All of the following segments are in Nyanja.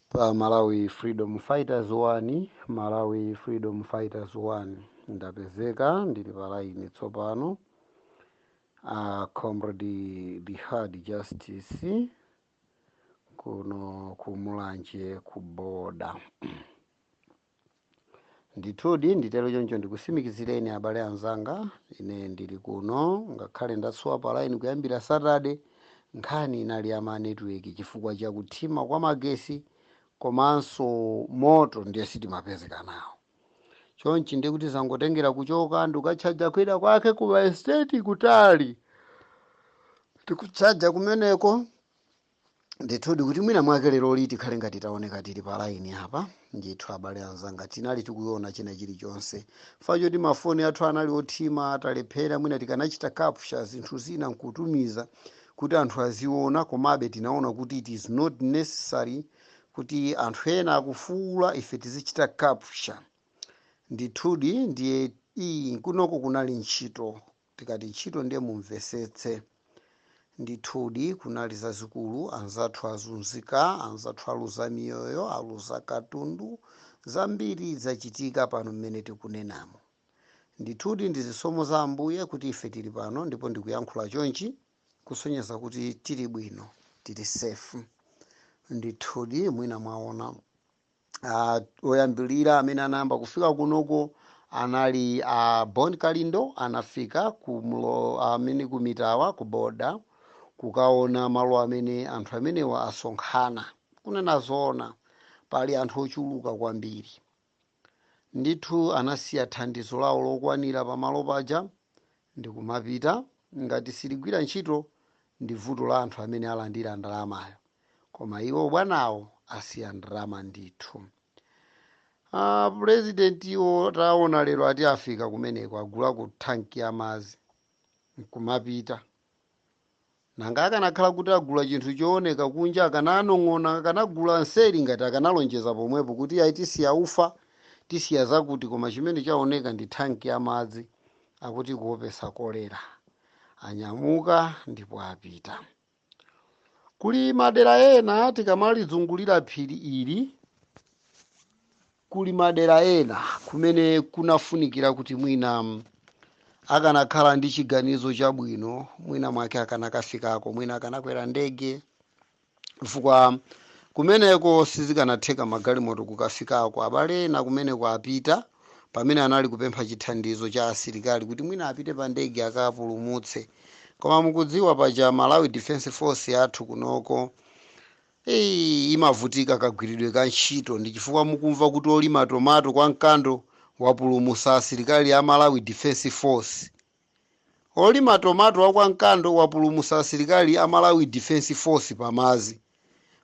pa Malawi Freedom Fighters 1 Malawi Freedom Fighters 1 ndapezeka ndili pa line tsopano uh, comrade Die Hard Justice kuno ku Mulanje ku boda Ndithudi nditero choncho ndikusimikizireni abale anzanga, ine ndili kuno, ngakhale ndasowa pa line kuyambira Saturday, nkhani inali ya ma network chifukwa cha kuthima kwa magesi komanso moto ndiye sitimapezeka nawo. Chonchi ndiye kuti zangotengera kuchoka ndikukatchaja kwina kwake ku ma estate kutali. Ndikutchaja kumeneko ndithudi kuti mwina mwake leroli tikhale ngati taoneka tili pa laini apa ndithu abale anzanga tinali tikuiona china chilichonse fa choti mafoni athu anali othima talephera mwina tikanachita capture zinthu zina nkutumiza kuti anthu aziona komabe tinaona kuti it is not necessary kuti anthu ena akufuula ife tizichita capture ndithudi ndiye iyi kunoko kunali ntchito Tikati ntchito ndiye mumvesetse. Ndithudi kunali zazikulu, anzathu azunzika, anzathu aluza miyoyo, aluza katundu, zambiri zachitika pano mmene tikunenamu. Ndithudi ndi zisomo za Ambuye kuti ife tili pano ndipo ndikuyankhula chonchi kusonyeza kuti tili bwino, tili safe. Ndithudi mwina mwaona. uh, oyambirira amene anayamba kufika kunoko anali uh, Bon Kalindo anafika ku mlo amene ku Mitawa ku boda kukaona malo amene anthu amenewa asonkhana kunena zoona pali anthu ochuluka kwambiri ndithu anasiya thandizo lawo lokwanira pamalo paja ndikumapita ngati siligwira ntchito ndi vuto la anthu amene alandira ndalamayo koma iwo bwanawo asiya ndrama ndithu ah, president iwo taona lero ati afika kumeneko agulako tanki ya madzi nkumapita nanga akanakhala kuti agula chinthu chooneka kunja akananong'ona akanagula nseri ngati akanalonjeza pomwepo kuti ayi tisiya ufa tisiya zakuti koma chimene chaoneka ndi tanki ya madzi akuti kuopesa kolera anyamuka ndipo apita Kuli madera ena tikamalizungulira phiri ili, kuli madera ena kumene kunafunikira kuti mwina akanakhala ndi chiganizo chabwino, mwina mwake akanakafikako, mwina akanakwera ndege, chifukwa kumeneko sizikanatheka magalimoto kukafikako. Abale ena kumeneko apita pamene anali kupempha chithandizo cha asilikali kuti mwina apite pa ndege akapulumutse koma mukudziwa paja malawi defense force yathu kunoko Ei, imavutika kagwiridwe ka ntchito ndi chifukwa mukumva kuti olima tomato kwa Mkando wapulumusa asilikali a malawi defense force Olima tomato wa kwa Mkando wapulumusa asilikali a Malawi Defense Force pa madzi.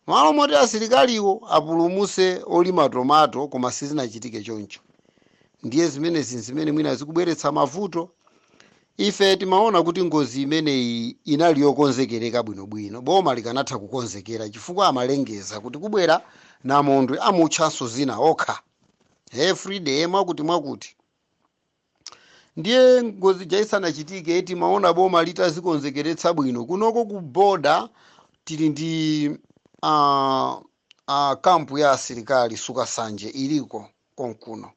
Malo moti asilikaliwo apulumuse olima tomato koma sizinachitike choncho. Ndiye zimenezi nzimene mwina zikubweretsa mavuto. Ife timaona kuti ngozi imeneyi inali yokonzekereka bwinobwino. Boma likanatha kukonzekera chifukwa amalengeza kuti kubwera Namondwe amutchanso zina okha. Everyday mwakuti mwakuti. ndiye ngozi ja isanachitike timaona boma litazikonzekeretsa bwino kunoko ku boda tili ndi uh, uh, kampu ya asilikali sukasanje iliko konkuno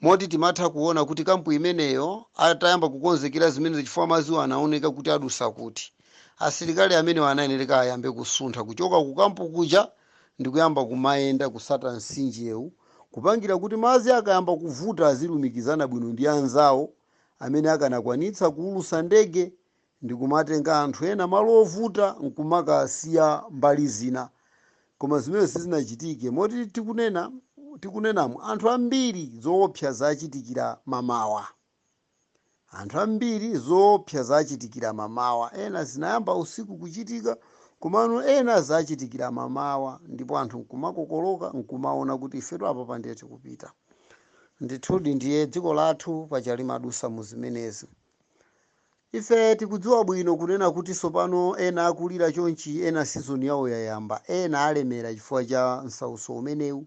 moti timatha kuona kuti kampu imeneyo atayamba kukonzekera zimenezo chifukwa madziwo anaoneka kuti adusa kuti asilikali amenewo anayenereka ayambe kusuntha kuchoka ku kampu kuja ndi kuyamba kumayenda kutsata mtsinjewu kupangira kuti madzi akayamba kuvuta azilumikizana bwino ndi anzawo amene akanakwanitsa kuulusa ndege ndikumatenga anthu ena malo ovuta nkumakasiya mbali zina koma zimene sizinachitike moti tikunenamo anthu ambiri zoopsa zachitikira m'mawa Anthu ambiri zoopsa zachitikira m'mamawa. Ena zinayamba usiku kuchitika, komano ena zachitikira m'mamawa ndipo anthu nkumakokoloka nkumaona kuti ifetu apapa ndiye tikupita. Ndithudi ndiye dziko lathu paja limadusa mu zimenezi. Ife tikudziwa bwino kunena kuti tsopano ena akulira chonchi, ena sizoni yawo yayamba, ena alemera chifukwa cha msautso umenewu,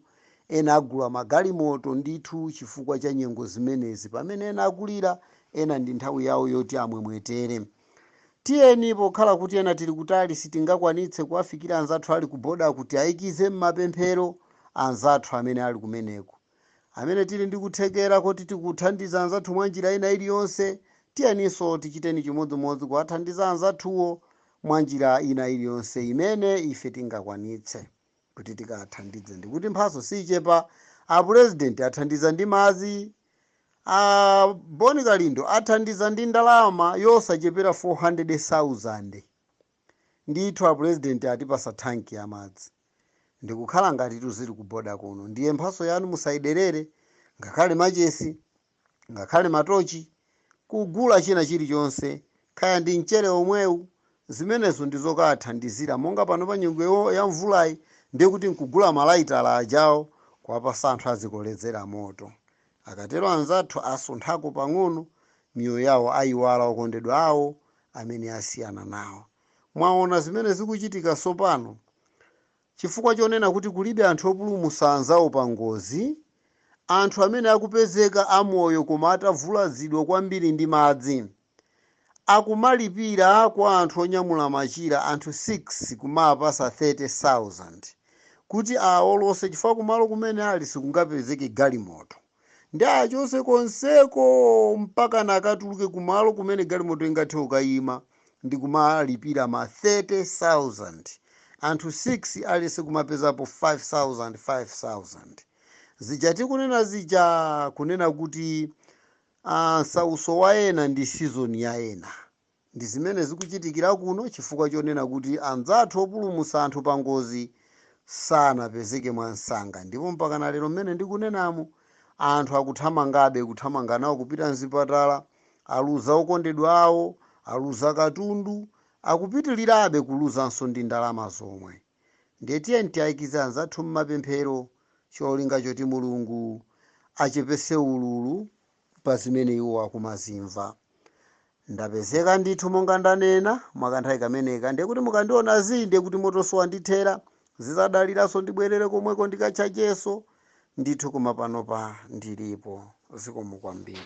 Ena agula magalimoto ndithu chifukwa cha nyengo zimenezi pamene ena akulira, ena ndi nthawi yawo yoti amwemwetere. Tiyeni, pokhala kuti ena tili kutali sitingakwanitse kuwafikira anzathu ali kubodaku, tiaikize m'mapemphero anzathu amene ali kumeneko. Amene tili ndi kuthekera kuti tikuthandiza anzathu mwa njira ina iliyonse, tiyeninso tichiteni chimodzimodzi kuwathandiza anzathuwo mwa njira ina iliyonse imene ife tingakwanitse. kuti tikathandize ndikuti mphatso siichepa apulezidenti athandiza ndi madzi a boni kalindo athandiza ndi ndalama yosachepera 400,000 ndithu apulezidenti atipatsa thanki ya madzi ndikukhala ngati tizili kuboda kuno ndiye mphatso yanu musayiderere ngakhale machesi ngakhale matochi, kugula china chilichonse, kaya ndi mchere omwewu, zimenezo ndi zokawathandizira, monga panopa nyengo ya mvulayi, ndiye kuti nkugula malaitala ajawo kuwapasa anthu azikolezera moto. Akatero anzathu asunthako pang'ono, miyoyo yawo ayiwala okondedwa awo amene asiyana nawo. Mwaona zimene zikuchitika tsopano? Chifukwa chonena kuti kulibe anthu opulumutsa anzawo pangozi, anthu amene akupezeka amoyo koma atavulazidwa kwambiri ndi madzi, akumalipira kwa anthu onyamula machira anthu 6 kumawapatsa 30,000 kuti awaolose chifukwa kumalo kumene ali sikungapezeke galimoto. nde achoke konseko mpakana akatuluke kumalo kumene galimoto ingathe kukayima ndikumalipira ma 30000 anthu 6 aliyese kumapezapo 5000 5000 zija tikunena zija kunena kuti ah, msautso wa ena ndi season ya ena Ndi zimene zikuchitikira kuno chifukwa chonena kuti anzathu opulumutsa anthu pangozi sanapezeke mwansanga ndipo mpakana lero mmene ndikunenamu anthu akuthamangabe kuthamanga nawo kupita mzipatala, aluza okondedwa awo, aluza katundu, akupitilirabe kuluzanso ndi ndalama zomwe. Ndiye tiyeni tiwaikize anzathu mmapemphero cholinga choti Mulungu achepetse ululu. pa zimene iwo akumazimva. Ndapezeka ndithu monga ndanena, mwakanthawi kameneka, ndiye kuti mukandiona zii ndiye kuti motonso wandithera, zizadaliranso ndibwerere komweko ndikatchajenso, ndithu koma panopa ndilipo. Zikomo kwambiri.